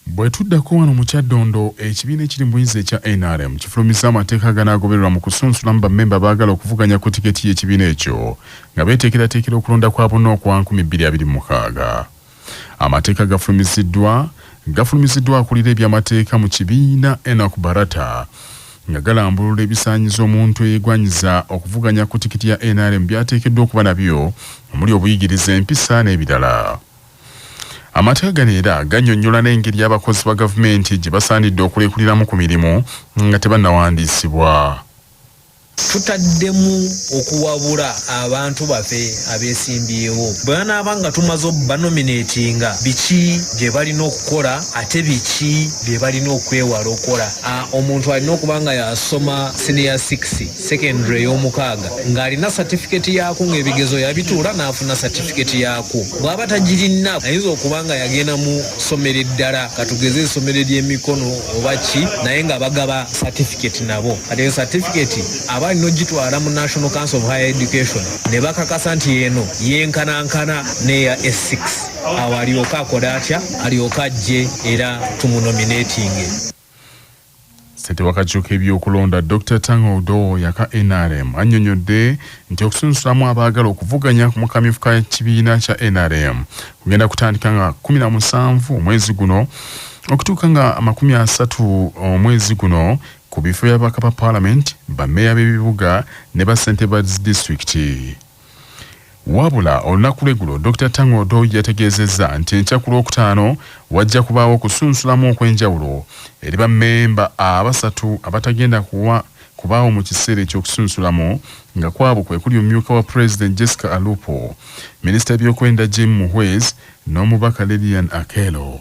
Bwe tuddako wano mu Kyaddondo, ekibiina ekiri mu buyinza ekya nrm kifulumizza amateeka aganaagobererwa mu kusunsulamu bammemba abaagala okuvuganya ku tiketi y'ekibiina ekyo nga beeteekerateekera okulonda kwa bonna okwa nkumi bbiri abiri mu mukaaga. Amateeka gafulumiziddwa gafulumiziddwa akulira ebyamateeka mu kibiina Enock Barata nga galambulula ebisaanyizo omuntu eyeegwanyiza okuvuganya ku tiketi ya nrm by'ateekeddwa okuba nabyo omuli obuyigirize, empisa n'ebirala. Amateeka gano era gannyonnyola n'engeri abakozi ba gavumenti gye basaanidde okulekuliramu ku mirimu nga tebannawandiisibwa. Tutaddemu okuwabula abantu bafe abesimbyewo bwebanaaba nga tumaze obbanominetinga biki byebalina okukola ate biki byebalina okwewala okola a omuntu alina okuba nga yasoma siniya 6. secondary ey'omukaaga ng'alina satifiketi yaakwo ng'ebigezo yabituula n'afuna satifiketi yaakwo bw'aba tagirinna ayinza okuba nga yagenda mu ssomero eddala katugeze essomero ery'emikono oba ki naye nga bagaba satifiketi nabo kati eyo satifiketi aba alina ogitwala mu national council of higher education ne bakakasa nti eno yenkanankana n'eya s6 awo alyoke akole atya alyoke ajje era tumunominatinge Ssentebe w'akakiiko k'ebyokulonda Dokita Tanga Odoo oyo aka nrm annyonyodde nti okusunsulamu abaagala okuvuganya mu kamyufu ka kibiina kya nrm kugenda kutandika nga kkumi na musanvu omwezi guno okutuuka nga amakumi asatu omwezi guno ku bifo by'ababaka ba palamenti, bammeeya b'ebibuga ne bassentebe ba zi disitulikiti. Wabula olunaku lw'eggulo Dokita Tang Odoi yategeezezza nti enkya ku Lwokutaano wajja kubaawo okusunsulamu okw'enjawulo eri bammemba abasatu abatagenda kuwa kubaawo mu kiseera eky'okusunsulamu nga kwabo kwe kuli omumyuka wa Pulezidenti Jessica Alupo, minisita w'ebyokwerinda Jim Muhwezi n'omubaka Lilian Akello.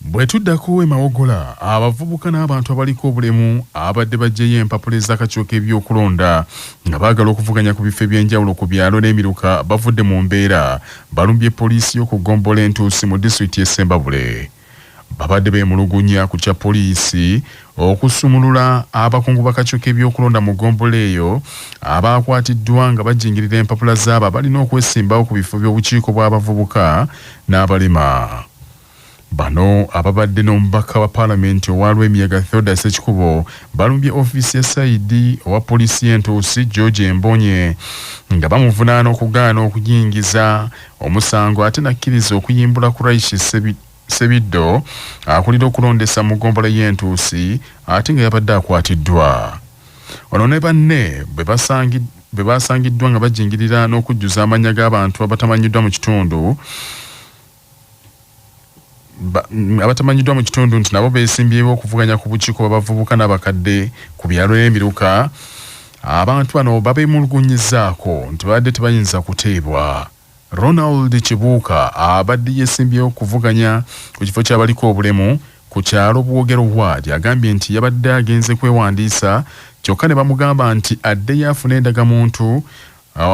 Bwe tuddako e Mawogola, abavubuka n'abantu abaliko obulemu ababadde baggyeyo empapula ez'akakiiko k'ebyokulonda nga baagala okuvuganya ku bifo eby'enjawulo ku byalo n'emiruka bavudde mu mbeera, balumbye poliisi y'oku ggombolola e Ntuusi mu disitulikiti y'e Ssembabule. Babadde beemulugunya ku kya poliisi okusumulula abakungu b'akakiiko k'ebyokulonda mu ggombolola eyo abaakwatiddwa nga bajingirira empapula z'abo abalina okwesimbawo ku bifo by'obukiiko bw'abavubuka n'abalema. Bano ababadde n'omubaka wa palamenti owa Lwemiyaga Theoda Ssekikubo balumbye ofiisi ya sayidi owa poliisi y'entuusi George Mbonye nga bamuvunaana okugaana okuyingiza omusango ate nakkiriza okuyimbula Kuraishi Sebiddo akulira okulondesa mu ggombolola y'entuusi ate nga yabadde akwatiddwa ono ne banne bwe basangiddwa bwe baasangiddwa nga bajingirira n'okujjuza amannya g'abantu abatamanyiddwa mu kitundu abatamanyiddwa mu kitundu nti nabo beesimbyewo okuvuganya ku bukiiko bw'abavubuka n'abakadde ku byalo emiruka abantu bano babeemulugunyizaako nti babadde tebayinza kuteebwa ronald kibuuka abadde yeesimbyewo okuvuganya ku kifo ky'abaliko obulemu ku kyalo bwogero waadi agambye nti yabadde agenze kwewandiisa kyokka ne bamugamba nti addeyo afune endagamuntu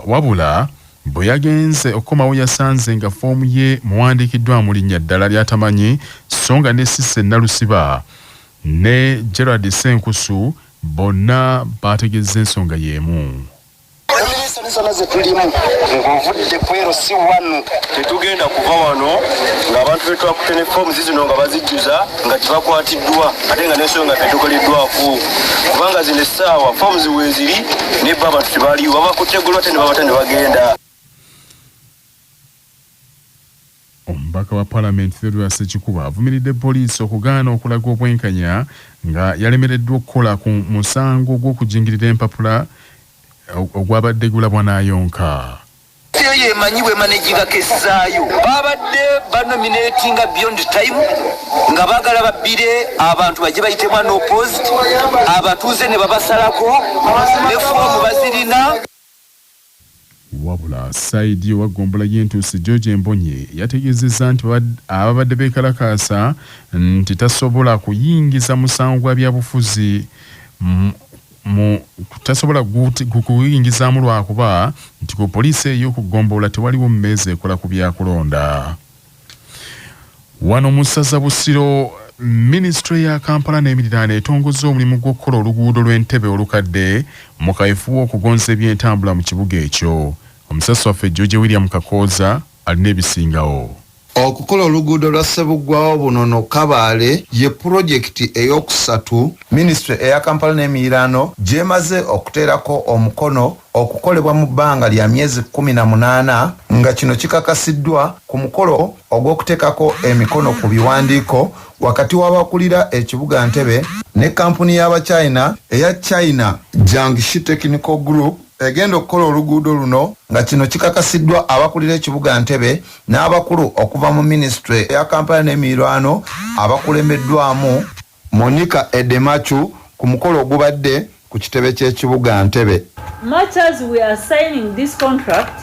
Wabula bwe yagenze okukomawo yasanze nga foomu ye muwandiikiddwamu linnya ddala ly'atamanyi so nga ne Cissy Nalusiba ne Gerald Ssenkusu bonna baategezza ensonga y'emu. zona zetulimu ng'ovudde kwero si wanu tetugenda kuva wano ng'abantu betwakute ne forms zino nga bazijjuza nga tebakwatiddwa ate nga nensonga tetukoleddwako kubanga zino essaawa foomu ziweeziri ne ba abantu tebaliwo babakutte golo ate ne babata ne bagenda omubaka wa palamenti theodora sekikuba avumiridde poliisi okugaana okulaga obwenkanya nga yalemereddwa okukola ku musango gw'okujingirira empapula ogwabadde gulabwa n'ayonka Ttiimu eyo emanyi bw'emanaginga keesi zaayo. Baabadde banomineetinga Beyond Time nga baagala babbire abantu bajje bayitemu unopposed, abatuuze ne babasalako ne foomu bazirina. Wabula sayidi owa ggombolola y'e Ntuusi, George Mbonye yategeezezza nti ababadde beekalakaasa nti tasobola kuyingiza musango gwa byabufuzi mu mu tasobola kukuyingizaamu lwakuba nti ku poliisi ey'oku ggombolola tewaliwo mmeeza ekola ku byakulonda wano mu ssaza busiro minisitule ya kampala n'emiriraano etongozza omulimu gw'okukola oluguudo lw'entebe olukadde mu kaefuwa okugonza ebyentambula mu kibuga ekyo omusasi waffe george william kakooza alina ebisingawo Okukola oluguudo lwa Ssebuggwawo Bunono Kabale ye pulojekiti ey'okusatu minisitule eya Kampala n'emiriraano gy'emaze okuteerako omukono okukolebwa mu bbanga lya myezi kkumi na munaana nga kino kikakasiddwa ku mukolo ogw'okuteekako emikono ku biwandiiko wakati w'abakulira ekibuga Ntebe ne kkampuni y'Abachina eya China Jiangxi Technical Group. egenda okukola oluguudo luno nga kino kikakasiddwa abakulira ekibuga Ntebe n'abakulu okuva mu minisitule ya Kampala n'emiirwano abakulembeddwamu Monica Edemachu ku mukolo ogubadde ku kitebe ky'ekibuga Ntebe. Much as we are signing this contract,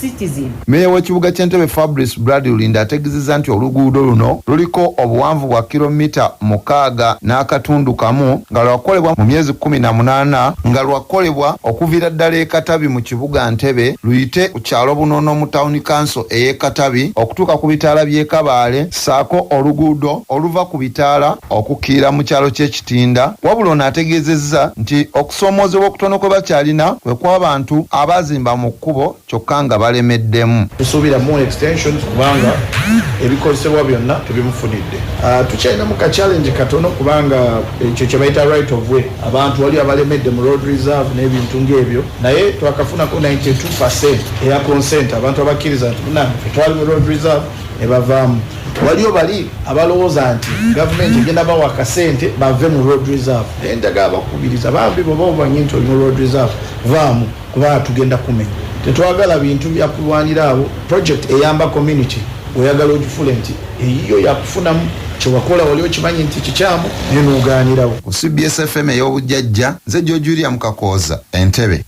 citizen. Meeya w'ekibuga ky'e Ntebe Fabrice Brad Rulinda ategezezza nti oluguudo luno luliko obuwanvu bwa kilo mita mukaaga n'akatundu kamu nga lwakolebwa mu myezi kkumi na munaana nga lwakolebwa okuviira ddala e Katabi mu kibuga Ntebe luyite ku kyalo Bunono mu tawuni kanso ey'e Katabi okutuuka ku bitaala by'e Kabaale ssaako oluguudo oluva ku bitaala okukkirira mu kyalo ky'e Tinda wabula ono ategeezezza nti okusoomoozebwa okutono kwe bakyalina kwe kw'abantu abaazimba mu kkubo kyokka nga balemeddemu. Tusuubira more extensions kubanga ebikozesebwa byonna tubimufunidde. Tukyalina mu ka challenge katono kubanga ekyo kye bayita right of way abantu waliwo abalemedde mu road reserve n'ebintu ng'ebyo naye twakafunako ninety two per cent eya consent abantu abakkiriza nti munnange ffe twali mu road reserve ne bavaamu. Waliyo bali abalowooza nti gavumenti egenda bawa akasente bave mu road reserve. Naye njagala bakubiriza bambi bw'oba omanyi nti oli mu road reserve vaamu kuba tugenda kumenya. Tetwagala bintu bya kulwanira awo. Project eyamba community oyagala ogifuule nti eyiyo ya kufunamu. Kye wakola wali okimanyi nti kikyamu naye n'ogaanirawo. Ku cbs FM ey'obujjajja, nze George William Kakooza e Ntebe.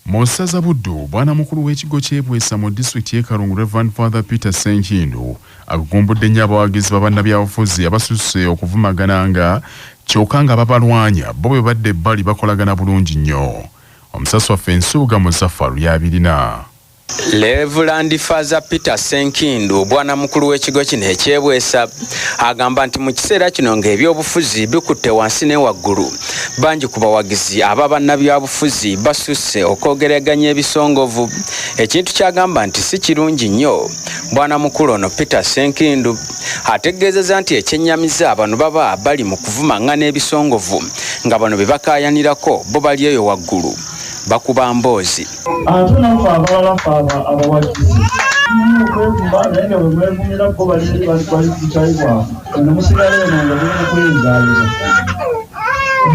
Mu ssaza Buddu, bwana mukulu w'ekigo ky'e Bwesa mu disitulikiti y'e Kalungu Rev. Father Peter Ssenkindu agugumbudde nnyo abawagizi ba bannabyabufuzi abasusse okuvumagananga kyoka nga ababalwanya bo bwe badda ebbali bakolagana bulungi nnyo. Omusasi waffe Nsubuga Muzafaru y'abirina. Levulandi Faaza Peter Ssenkindu bwanamukulu w'ekigo kino ekyebwesa agamba nti mu kiseera kino ng'ebyobufuzi bikutte wansi ne waggulu bangi ku bawagizi aba bannabyabufuzi basusse okwogeraganya ebisongovu ekintu kyagamba nti si kirungi nnyo bwanamukulu ono Peter Ssenkindu ategeezeza nti ekyennyamiza bano baba bali mu kuvumang'ana ebisongovu nga bano bye bakaayanirako bo bali eyo waggulu bakuba mboozi Ate naffe abalala ffe abo abawagizi tulina okwevuma naye nga bwe mwevumira bo bali eri bali bali ku bukyayi bwabwe eno musigala eno nga muli mu kweyinzaayiza.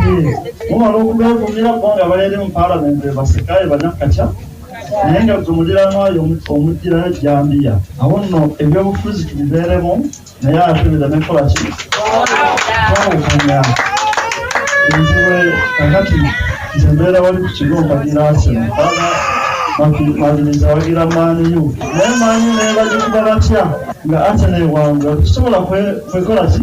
Yee, mumala okubeevumira bo nga bali eri mu Palamenti be baseka be banakkakya naye nga ggwe muliraanwa yo omu- omuggirayo jjambiya. Awo nno ebyobufuzi tubibeeremu. naye ate bera nekola ki twawukanya enziwe kakati nze mbeera wali ku kigo mpagira aseno bana maliriza wagira maaniyu naye maanyi nebagikuba batya nga aseno ewange tusobola kwekola ki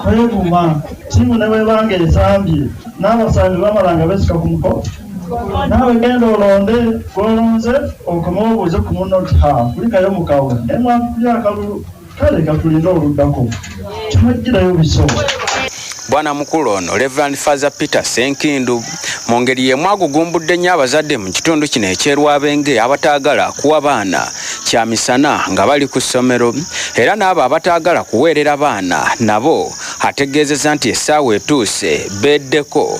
kweguma tiimu nebwebanga ezambye n'abasambi bamala nga besika ku muko Naawe genda olonde gw'olonze okome obuuze ku munno nti, Ha, kulikayo mu kawe ne mwakukulya akalulu. Kale ka tulinde oluddako. Temujjirayo biso. Bwana mukulu ono Rev. Faaza Peter Ssenkindu mu ngeri y'emu agugumbudde nnyo abazadde mu kitundu kino eky'e Lwabenge abataagala kuwa baana kya misana nga bali ku ssomero era n'abo abataagala kuweerera baana nabo ategeezezza nti essaawa etuuse beeddeko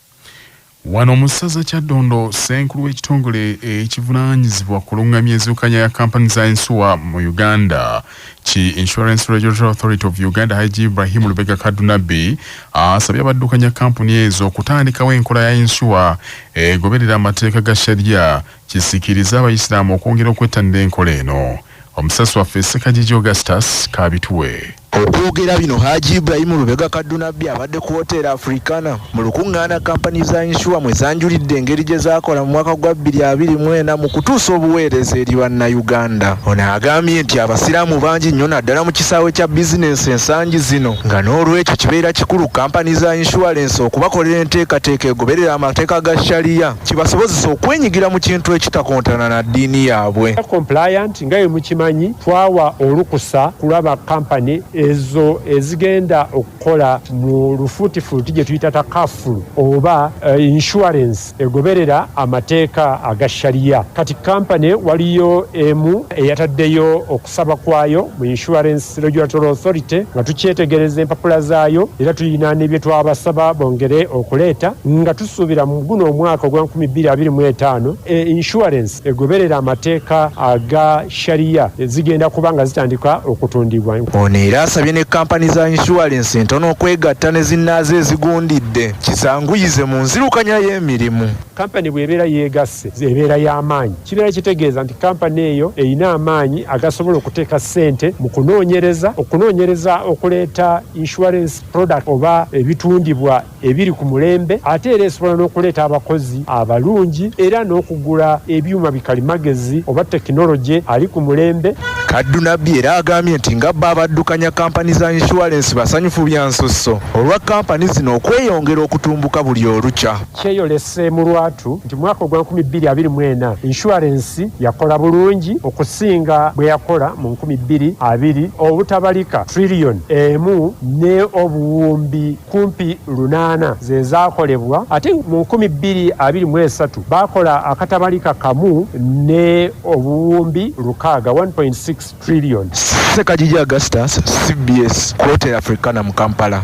Wano mu ssaza Kyaddondo, ssenkulu w'ekitongole ekivunaanyizibwa ku lung'amya enzirukanya ya kampani za ensuwa mu Uganda ki Insurance Regulatory Authority of Uganda Haji Ibrahim Lubega Kadunabbi asabye abaddukanya kampuni ezo okutandikawo enkola ya ensuwa egoberera amateeka ga sharia kisikiriza abayisiraamu okwongera okwettanira enkola eno. Omusasi waffe Ssekajiji Augustus kaabituwe. Okwogera bino Haji Ibrahim Lubega Kaddunabbi abadde ku Hotel Africana mu lukungaana kkampani za yinsuwa mwe zanjulidde engeri gye zaakola mu mwaka gwa bbiri abiri mu ena mu kutuusa obuweereza eri Bannayuganda. Ono agambye nti Abasiraamu bangi nnyo naddala mu kisaawe kya bizinensi ensangi zino nga n'olwekyo kibeera kikulu kkampani za yinsuwalensi okubakolera enteekateeka egoberera amateeka ga Sharia. kibasobozesa okwenyigira mu kintu ekitakontana na ddiini yaabwe. Compliant nga bwe mukimanyi twawa olukusa kulaba kampani ezo ezigenda okukola mu lufuutifuuti gye tuyita takafulu oba insurance egoberera amateeka aga Sharia. Kati kampani waliyo emu eyataddeyo oku Ssabakwaayo mu Insurance Regulatory Authority nga tukyetegereza empapula zaayo era tulina ne bye twabasaba bongere okuleeta nga tusuubira mu guno omwaka ogwa nkumi bbiri abiri mu etaano e Insurance egoberere amateeka aga Sharia zigenda kuba nga zitandika okutundibwa. Ono era asabye ne Kampani za Insurance entono okwegatta ne zinnaazo ezigundidde kisanguyize mu nzirukanya y'emirimu. Kampani bw'ebeera yeegasse ebeera ya maanyi kibeera kitegeeza nti kampani eyo erina amaanyi agasobola okuteeka ssente mu kunoonyereza, okunoonyereza okuleeta insurance product oba ebitundibwa ebiri ku mulembe ate era esobola n'okuleeta abakozi abalungi era n'okugula ebyuma bikalimagezi oba tekinologye ali ku mulembe. Kaddu Nabbi era agambye nti nga bbo abaddukanya kampani za insurance basanyufu bya nsusso olwa kampani zino okweyongera okutumbuka buli olukya. Kyeyolese mu lwatu nti mwaka ogwa nkumi bbiri abiri mu ena insurance yakola bulungi okusinga bweyakola mu nkumi bbiri abiri obutabalika trillion emu ne obuwumbi kumpi lunaana zezakolebwa ate mu nkumi bbiri abiri mu esatu bakola akatabalika kamu ne obuwumbi lukaaga, one point six trillion. Ssekajiji Augustus, cbs, Ku Hotel Africana mu Kampala.